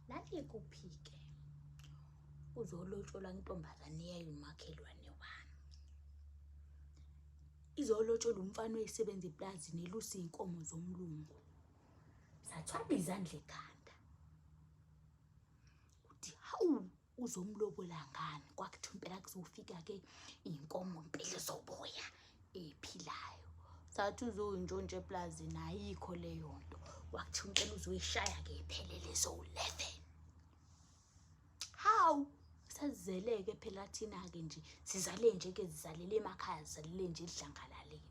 lalikuphi-ke uzolotsholwa intombazane yayo umakhelwane wami izolotsholwa umfana oyisebenza eplazini elusa iy'nkomo zomlungu zathwala izandla ekhanda uthi hawu uzomlobola ngani kwakuthiwa impela kuzofika-ke iy'nkomo mpela zoboya ephilayo sathi uzoyintshontsha eplazini ayikho leyo nto wakuthiwa impela uzoyishaya-ke iphelele zowu-eleven hawu sazizele-ke phela thina-ke nje sizale nje-ke zizalele emakhaya zizalele nje edlangalaleni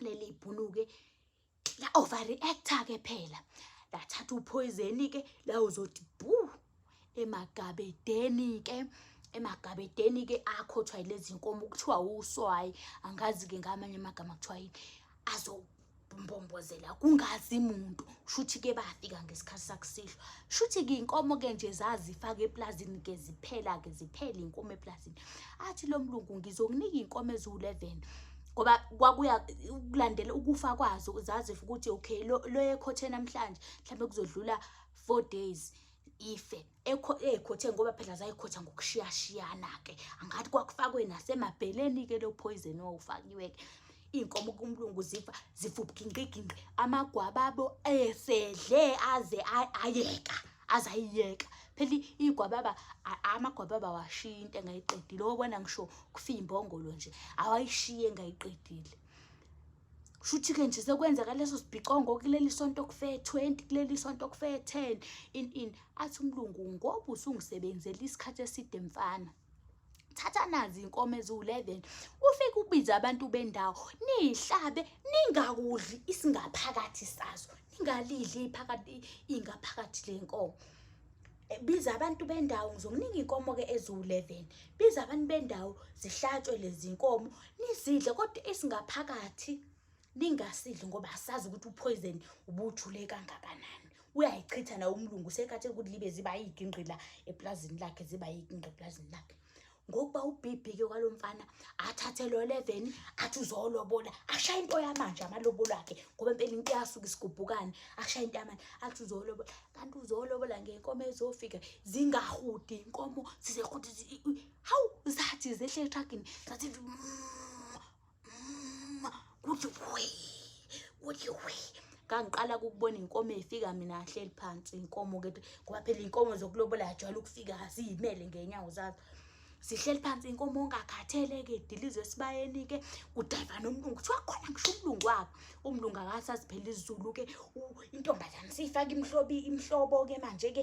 leli ibhuluke la overreactor ke phela lathatha uphoyizeni ke la uzothi bu emagabedeni ke emagabedeni ke akhothwa lezi nkomo kuthiwa uswayi angazi ke ngamanye amagama kuthiwa yini azo mbombozela kungazi muntu shuthi ke bafika ngesikhathi sakusihlwa shuthi ke inkomo ke nje zazifaka eplazini ke ziphela ke ziphela inkomo eplazini athi lo mlungu ngizokunika inkomo eziwu-11 ngoba kwakuya ukulandela ukufa kwazo zazi ukuthi okay lo ekhothe namhlanje mhlawumbe kuzodlula four days ife eyikhothe ngoba phela zayikhotha ngokushiyashiyana-ke angathi kwakufakwe nasemabheleni-ke lo phoyizeni owawufakiwe-ke iy'nkomo kumlungu zifa zifubhinqiginqi amagwababo esedle aze ayeka ay azayiyeka phela igwababa amagwababa awashiye into engayiqedile okubona ngisho kufiya imbongolo nje awayishiye engayiqedile shuthi-ke nje sekwenzeka leso sibhicongo kuleli sonto kufe 20 kuleli sonto kufe 10 in in athi umlungu ngoba usungisebenzela isikhathi eside mfana thatha nazi inkomo eziwu-11 ufike ubize abantu bendawo niyihlabe ningakudli isingaphakathi sazo ningalidli iphakathi ingaphakathi le nkomo eh, biza abantu bendawo ngizokuninga inkomo-ke eziwu-11 biza abantu bendawo zihlatshwe lezi nkomo nizidle kodwa esingaphakathi ningasidli ngoba asazi ukuthi uphoyizeni ubuthule kangakanani uyayichitha nawo umlungu sekhathele ukuthi libe ziba yigingqila epulazini lakhe ziba yigingqi epulazini lakhe ngokuba ubhibhike kwalo mfana athathe lo leveni athi uzolobola ashaye into yamanje amalobolo akhe ngoba impela into yasuke isigubhukane ashaye into yamanje athi uzolobola kanti uzolobola ngenkomo ezofika zingahudi inkomo zizehudi hawu zathi zehle etragini zathi mm. kuthi wi kuthi wi kangiqala kukubona inkomo efika mina ahleli phansi inkomo ke ngoba phela inkomo zokulobola ajwayele ukufika ziyimele ngenyawo zazo sihleli phansi inkomo ongakhathele ke dilizwe esibayeni ke kudayiva nomlungu kuthiwa khona ngisho umlungu wakhe umlungu akasaziphela izulu ke intombazane siyifaka imhlobi imhlobo ke manje ke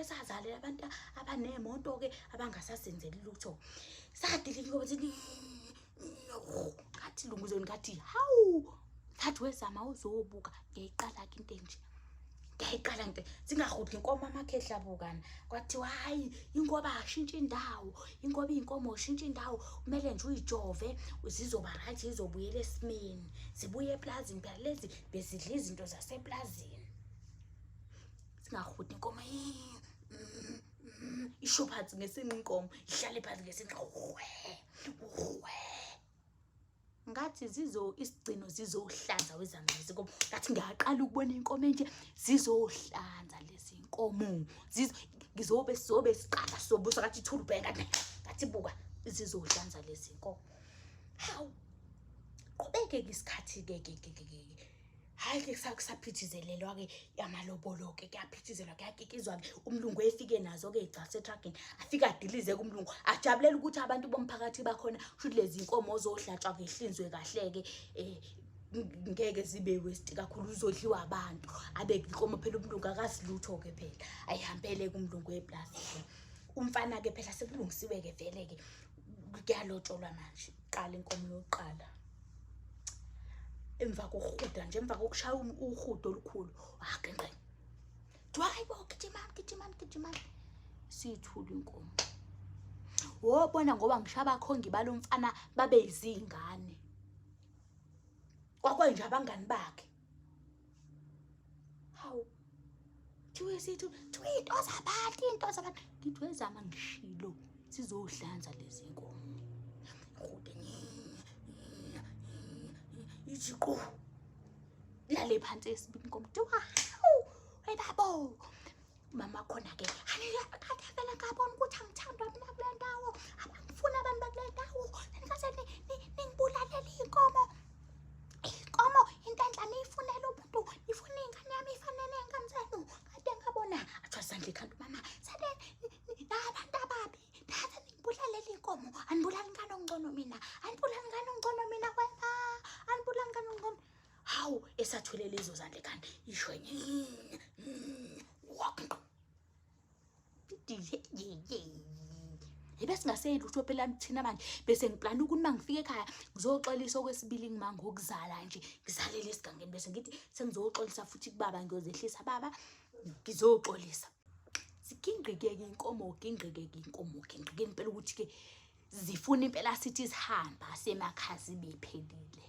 esazalela abantu abaneemoto-ke abangasasenzeli lutho sadilika ukuthi ngathi lunguzweni ngathi hawu ngathi wezama uzobuka ngiyayiqala-ke into enje ngiyayiqala nto zingahudli inkomo amakhehla bukana kwathiwa hhayi inkoba ashintshe indawo inkoba iyinkomo ushintshe indawo kumele nje uyijove zizoba right zizobuyela esimeni zibuye eplazini phela lezi bezidla izinto zaseplazini singahudi inkomo isho phansi ngesinqa inkomo ihlale phansi ngesinqa uhwe uhwe ngathi zizo isigcino zizohlanza wezamazisi inkomo ngathi ngiyaqala ukubona inkomo enje zizohlanza lezi nkomo ngizobe sizobe siqala sobuso ngathi ithula ubheka ngathi buka zizohlanza lezi nkomo hawu qhubeke-ke isikhathi-ke ke ke ke ke hhayi ke kusaphithizelelwa-ke amalobolo-ke kuyaphithizelwa kuyakikizwa-ke umlungu efike nazo-ke igcasa etragini afike adilize-ke umlungu ajabulele ukuthi abantu bomphakathi bakhona shuthi lezi nkomo ozohlatshwa ngehlinzwe kahle-ke um ngeke zibe westi kakhulu uzodliwa abantu abe inkomo phela umlungu akasilutho-ke phela ayihambele-ke umlungu weplasi-ke umfana-ke phela sekulungisiwe-ke vele-ke kuyalotsholwa manje qala inkomo yokuqala emva kokuhuda nje emva kokushaya uhudo olukhulu wagenqe kuthiwa hayi bo gijimani gijimani gijimani siyithula inkomo wobona ngoba ngisho abakhongi balo mfana babe yizingane kwakwenje abangani bakhe Hawu. Thiwe sithu, thiwe into zabantu, into zabantu. Ngithi wezama ngishilo sizohlanza lezi nkomo. Ngode iziqo. Lale phansi esibini komntu. Hawu. Hey babo. mama khona ke kade vele ngabona ukuthi angithandwa mina kule ndawo abangifuni abantu bakule ndawo nanikaze ningibulalela iy'nkomo iy'nkomo into enhla niyifunela umuntu nifuna iy'ngane yami ifanele iy'ngane zenu kade ngabona athiwa sandla ikhanda umama sade nabantu ababi thatha ningibulalela iy'nkomo anibulali ngane ongcono mina anibulali ngane ongcono mina wena anibulali ngane ongcono hawu esathwele lezo zandle kanti isho Yebe singaseyeli ukuthi phela thina manje bese ngiplana ukuthi mangifike ekhaya ngizoxolisa okwesibili ngima ngokuzala nje ngizalele esigangeni bese ngithi sengizoxolisa futhi kubaba ngiyozehlisa baba ngizoxolisa sigingqike ke inkomo gingqike ke inkomo gingqike impela ukuthi ke zifuna impela sithi sihamba semakhazi bephelile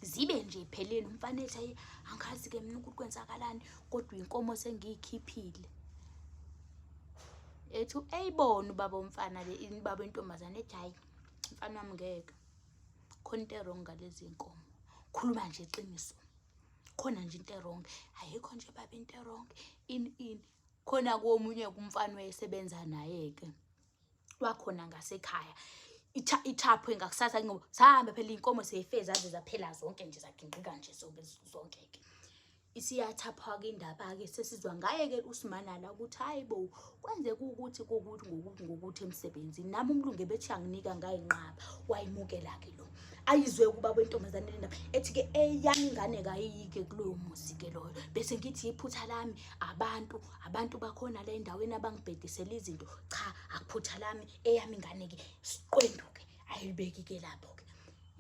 zibe nje pheleni umfana ethi ayi angazi ke mina ukuthi kwenzakalani kodwa inkomo sengiyikhiphile ethi eyibona ubaba umfana le baba intombazane ethi hayi mfana wami ngeke khona into erong ngalezi nkomo khuluma nje iqiniso khona nje into erong ayikho nje baba into erong in in khona komunye kumfana wayesebenza naye-ke wakhona ngasekhaya ithaphwe ngakusasa ngoba sahambe phela iy'nkomo seyife zaze zaphela zonke nje zagingqika nje zonke zonke-ke isiyathaphwa-ke indaba-ke sesizwa ngaye-ke usimanala ukuthi hhayi bo kwenzeka ukuthi kokuthi ngokuthi ngokuthi emsebenzini nami umlungu ebethi anginika ngayinqaba wayimukela-ke lo ayizwe ukuba kwentombazane le ndaba ethi-ke eyami ingane kayiyike kuloyo muzi-ke loyo bese ngithi iphutha lami abantu abantu bakhona la endaweni abangibhedisela izinto cha akuphutha lami eyami ingane-ke siqwendu-ke ayilibeki-ke lapho-ke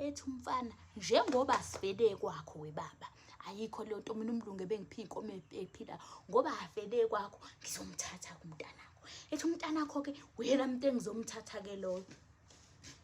ethi umfana njengoba sivele kwakho webaba ayikho leyo nto mina umlungu ebengiphi inkomo ephila ngoba avele kwakho ngizomthatha kumntanakho ethi umntanakho-ke uyena muntu engizomthatha-ke loyo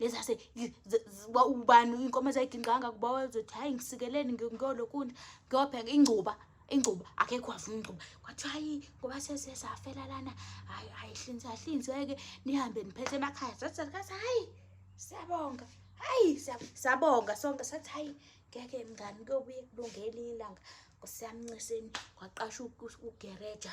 lezase ubani inkomo ezayigingqanga kuba wazothi hayi ngisikeleni ngiyolokunda ngiyobheka ingcuba ingcuba akekho wavuma ingcuba kwathiwa hayi ngoba sesesafela lana hayi ayihlinzi ahlinzeke nihambe niphethe emakhaya sathi hayi siyabonga hayi siyabonga sonke sathi hayi ngeke mngani kuyobuye kulunge elinye ilanga nkosi yamnciseni kwaqasha ugereja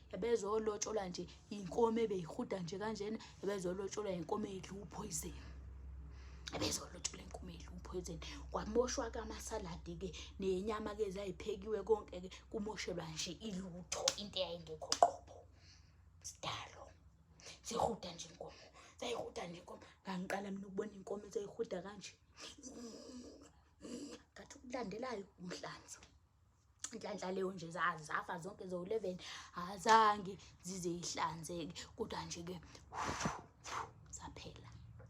ebezolotsholwa nje yinkomo ebeyihuda nje kanjena ebezolotsholwa yinkomo edla uphoyizeni ebezolotsholwa inkomo edla uphoyizeni kwamoshwa kamasaladi ke nenyama ke zayiphekiwe konke ke kumoshelwa nje ilutho into eyayingekho qobo sidalo sihuda nje inkomo zayihuda nje inkomo ngangiqala mina ukubona inkomo ezayihuda kanje ngathi ukulandelayo umhlanza inhlanhla leyo nje zazafa zonke zowu-11 azange zize yihlanzeke kodwa nje-ke zaphela